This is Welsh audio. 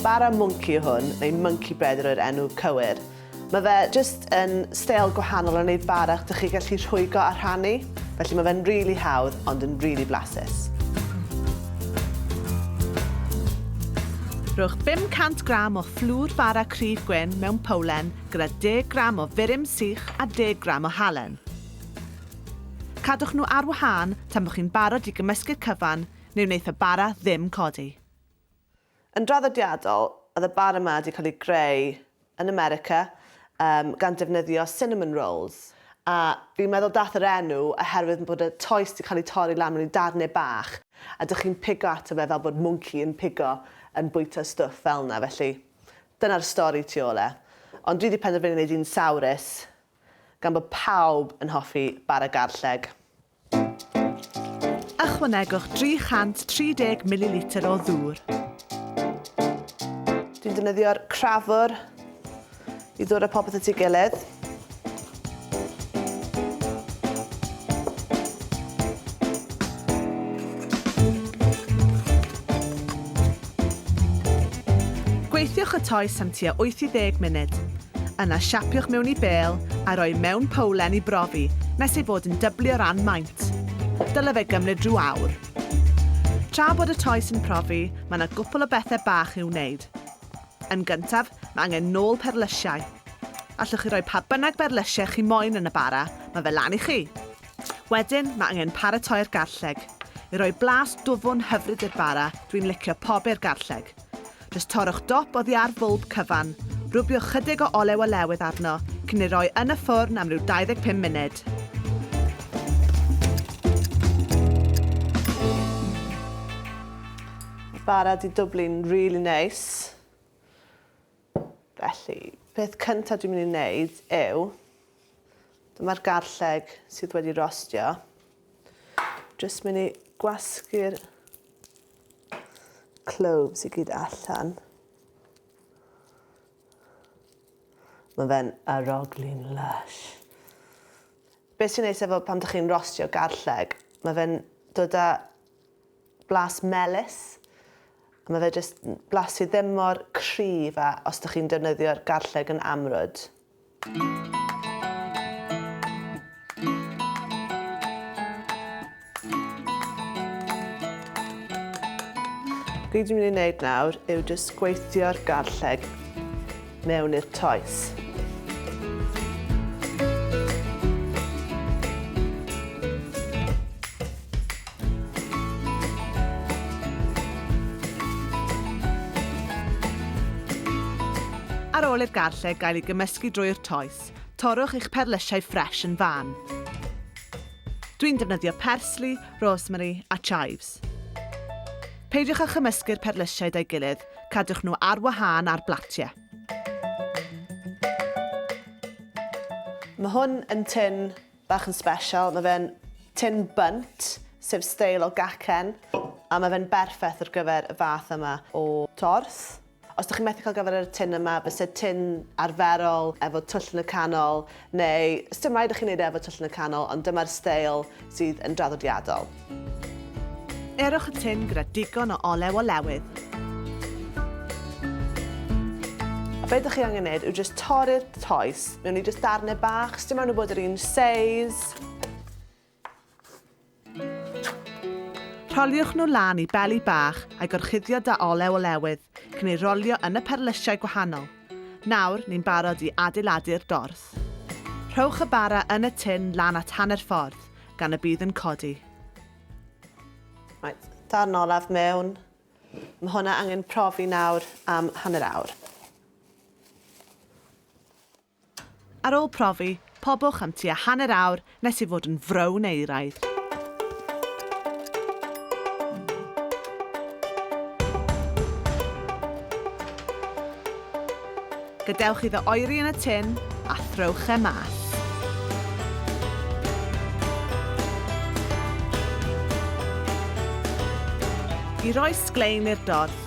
Bara Mwnci yw hwn, neu Monkey Bread yw'r enw cywir. Mae fe jyst yn steil gwahanol o wneud bara dych chi gallu rhwygo a rhannu, felly mae fe'n rili hawdd ond yn rili blasus. Rhowch 500 gram o fflwr bara cryf gwyn mewn powlen gyda 10 gram o furum sych a 10 gram o halen. Cadwch nhw ar wahân tan bod chi'n barod i gymysgu'r cyfan Ni wnaeth y bara ddim codi. Yn draddodiadol, oedd y bara 'ma 'di cael ei greu yn America yym gan defnyddio cinnamon rolls, a fi'n meddwl dath yr enw oherwydd bod y toes 'di cael ei torri lan mewn i darnau bach a dych chi'n pigo ato fe fel bod mwnci yn pigo yn bwyta stwff fel 'na, felly dyna'r stori tu ôl e. Ond dwi 'di penderfynu wneud un sawrus gan bod pawb yn hoffi bara garlleg. Ychwanegwch 330 mililitr o ddŵr. Dwi'n defnyddio'r crafwr i ddod â popeth at ei gilydd. Gweithiwch y toes am tua 8 i 10 munud. Yna siapiwch mewn i bêl a rhoi mewn powlen i brofi nes ei fod yn dyblu o ran maint. Dyle fe gymryd rhyw awr. Tra bod y toes yn profi, mae yna gwpl o bethau bach i'w wneud. Yn gyntaf, mae angen nôl perlysiau. Allwch chi roi pa bynnag berlysiau chi moyn yn y bara, mae fe lan i chi! Wedyn mae angen paratoi'r garlleg. I roi blas dwfwn hyfryd i'r bara, dwi'n licio pobi'r garlleg. Jyst torrwch dop oddi ar fwlb cyfan, rwbiwch chydig o olew olewydd arno cyn ei roi yn y ffwrn am ryw 25 munud. Bara 'di dwblu'n rili neis. Felly, peth cynta dwi'n mynd i wneud yw, dyma'r garlleg sydd wedi rostio. Jyst mynd i gwasgu'r cloves i gyd allan. Mae fe'n aroglu'n lush. Beth sy'n neis efo pan ydych chi'n rostio garlleg, mae fe'n dod â blas melys, a mae fe jyst yn blas sydd ddim mor cryf a os ydych chi'n defnyddio'r garlleg yn amrwd. Be dwi'n mynd i wneud nawr yw jyst gweithio'r garlleg mewn i'r toes. Ar ôl i'r garlleg gael ei gymysgu drwy'r toes, torrwch eich perlysiau ffres yn fan. Dwi'n defnyddio persli, rosemary a chives. Peidiwch â chymysgu'r perlysiau da'i gilydd, Cadwch nhw ar wahân ar blatiau. Mae hwn yn tin bach yn special, mae fe'n tin bunt, sef steil o gacen, a mae fe'n berffaith ar gyfer y fath yma o tors. Os ydych chi'n methu cael gyfer y tin yma, byse tin arferol efo twll yn y canol Neu, sdim raid i chi wneud e efo twll yn y canol, ond dyma'r steil sydd yn draddodiadol. Erwch y tin gyda digon o olew o lewydd. A be ydych chi angen wneud yw jyst torri'r toes mewn i jyst darnau bach, sdim rhaid nhw bod yr un seis. Rholiwch nhw lan i beli bach a'i gorchuddio da olew olewydd cyn ei rolio yn y perlysiau gwahanol. Nawr, ni'n barod i adeiladu'r dorth. Rhowch y bara yn y tin lan at hanner ffordd, gan y bydd yn codi. Reit, darn olaf mewn. Mae hwnna angen profi nawr am hanner awr. Ar ôl profi, pobwch am tua hanner awr nes ei fod yn frown euraidd. Gadewch iddo oeri yn y tin a throwch e mas. I roi sglein i'r dorth,